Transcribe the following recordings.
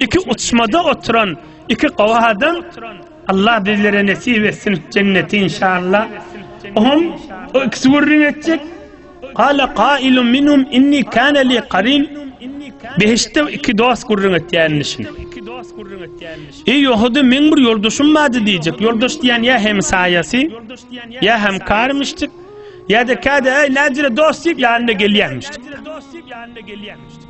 Iki uçmada oturan iki gowy adam Allah bizlere nesip etsin jenneti inşallah. Oňam o ikisi gürrüň etjek. Qala qailun minhum inni kana li qarin. Behiştde iki dost gürrüň etýänini şin. Ey Ýahudy meň bir ýoldaşym bardy diýjek. Ýoldaş diýen ýa hem saýasy, ýa hem karymyşdyk, ýa-da käde ey näjire dost diýip ýanyna gelýänmişdik.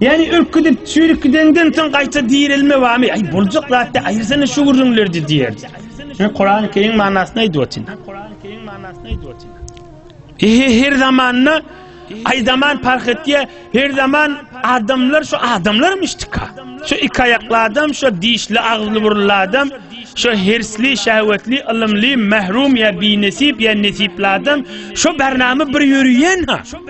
Ýani ölüp gidip çüýrüp gidenden soň gaýta direlme barmy? Aý boljak zatda aýyrsana şu gürrüňlerdi diýerdi. Men Kurany Kerim manysyny aýdyp otyryn. Ehe her zamanda aý zaman parh etýär. Her zaman adamlar şu adamlarmyşdyka. Şu iki aýakly adam, şu dişli agzly burunly adam, şu hersli, şäwetli, ylymly, mahrum ýa binesip ýa nesipli adam, şu bernama bir ýörüýän ha.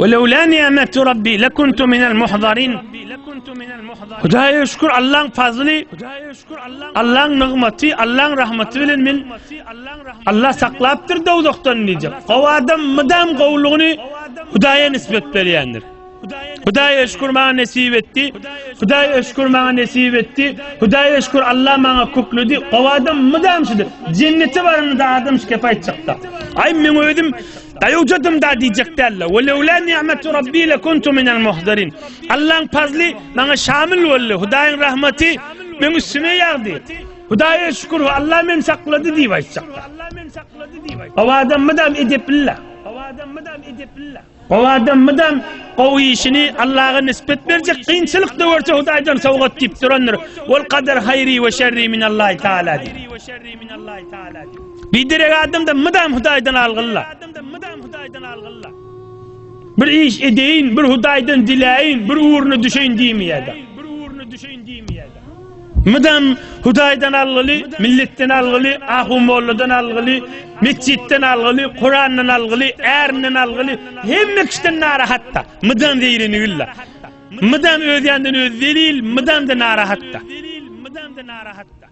Weleula ni'metu rabbi lekuntu minel muhzarin. Hudaýa şükür Allaň fazly, Allaň nygmaty, Allaň rahmaty bilen men Allah saklapdyr dowzahdan diýjek. Gowy adam mydam gowlugyny Hudaýa nisbet berýändir. Hudaýa şükür maňa nesip etdi. Hudaýa şükür maňa nesip etdi. Hudaýa şükür Allah maňa kökledi. Gowy adam mydam şudur. Jennete baranda adam şikayet çykda. Ay men özüm Daýawjadym da diýjek däl-le. Ve lewlâ ni'metu Rabbi le kuntu minel muhdarin. Allaň pazly maňa şamil boldy. Hudaýyň rahmaty meň üstüme ýagdy. Hudaýa şükür, Allah meni saklady diýip aýtjaklar. Gowy adam mydam edepli-le. Gowy adam mydam gowy işini Allaha nisbet berjek, kynçylyk-da görse Hudaýdan sowgat diýip durandyr. Vel kader haýri ve şerri minallahi taala. Biderek adamda mydam Hudaýdan algylla. Bir iş edeýin, bir Hudaýdan diläýin, bir ugruna düşeýin diýmeýärdi. Mydam Hudaýdan algyly, milletden algyly, ahu molladan algyly, metjitden algyly, Kurandan algyly, ärinden algyly, hemme kişiden narahatda. Mydam zeýreni güllä. Mydam öz ýandan öz zelil, mydam da narahatda. Mydam da narahatda.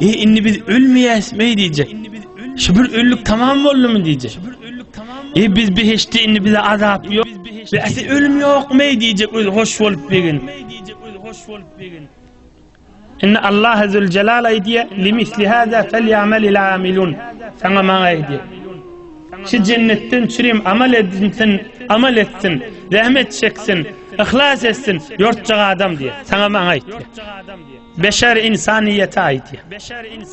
E indi biz ölmeýäsmi diýjek. Şu bir ölük tamam boldumy diýjek. E biz behişde indi bize azap ýok. Biz ese ölüm ýokmy diýjek öl hoş bolup begin. Indi Allah azul celal aýdýa limisli hada felyamal il amilun. Sana maňa aýdýa. Şu jennetten çürim amal edinsin, amal etsin, zähmet çeksin, ihlas etsin, ýortjak adam diýe. Sana maňa aýdýa. Beşer insanyýete aýdýar.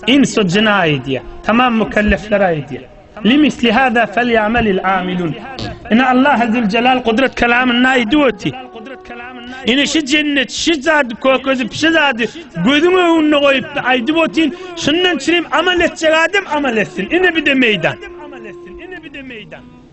Ins-u jyna aýdýar. Tamam mükelleflere aýdýar. Limisli hada felýamelil amilun. Ine Allah zülcelal gudrat kelamynda aýdyp oty. Ine şi jennet şi zady kökezip şi zady gözüň öňünde goýup aýdyp otyn. Şundan çirim amal etjek adam amal etsin. Ine bide meýdan.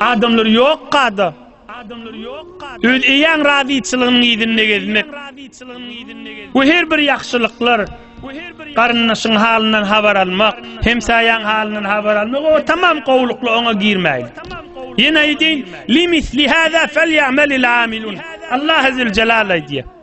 Adamlar yok kada. Adamlar yok kada. Öz eýäň razyçylygynyň ýüzünde gezmek. Bu her bir ýagşylyklar. Garyndaşyň halyndan habar almak, hemsaýaň halyndan habar almak o tamam gowlukly oňa girmäýdi. Ýene aýdýan, "Limis li hada fel ya'mal al amilun." Allah azza jalaly diýýär.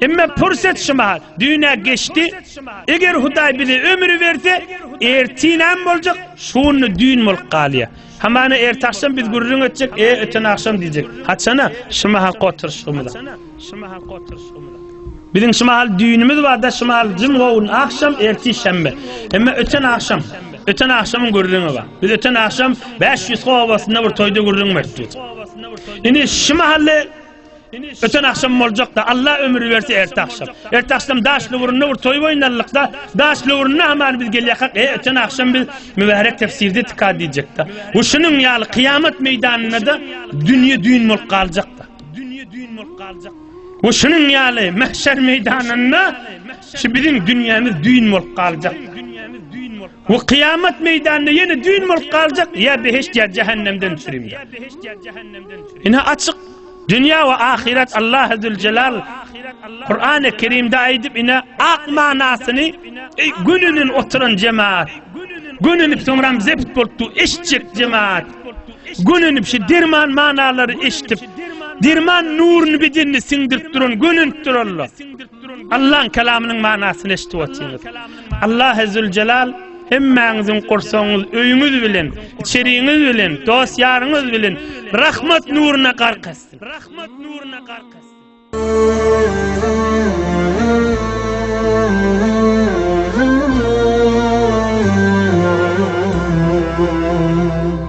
Emma pursat şumal, düýn-ä geçdi. Eger Hudaý bize ömri berse, ertir näme boljak? Şu günde düýn bolup galýar. Hamana ertagşam biz gürrüň etjek, e, öten agşam diýjek. Haçana? Şu mahalyk oturyşygymyza. Biziň şu mahal düýnümiz bar-da, şu mahal jym-gowun agşam, ertir şenbe. Emma öten agşam, öten agşamyň gürrüňi bar. Biz öten agşam Bäşýüzka obasynda bir toýda gürrüň bertdik. Indi şu mahaly Öten akşam boljakda Allah ömür berse erte akşam. Erte akşam daş lüwründe bir toy oýnalykda, daş lüwründe haman biz gelýäkak. E öten akşam biz mübärek tefsirde tika diýjekde. Bu şunuň ýaly kyýamat meýdanynda dünýe düýn bolup galjakda. Dünýe düýn bolup galjak. Bu şunuň ýaly mahşer meýdanynda şu biziň dünýämiz düýn bolup galjak. Bu kyýamat meýdanynda ýene düýn bolup galjak ýa behişt ýa jähennemden sürüm ýa behişt ýa jähennemden sürüm. Ine açyk dünýä we ahyret Allah Azzel Jelal Kur'an-ı Kerimde aýdyp ine ak manasyny ey gönünin oturan jemaat gönünip soňram zepit bolup du eşitjek jemaat gönünip şu derman manalary eşitip derman nuruny bedenine siňdirip duran gönünip duralla Allaň kalamynyň manasyny eşidip otyrsyňyz. Allah Ezzülcelal hemmäňiziň gursagyňyz, öýüňiz bilen, içeriňiz bilen, dost ýaryňyz bilen rahmat nuruna gark etsin. Rahmat nuruna gark etsin.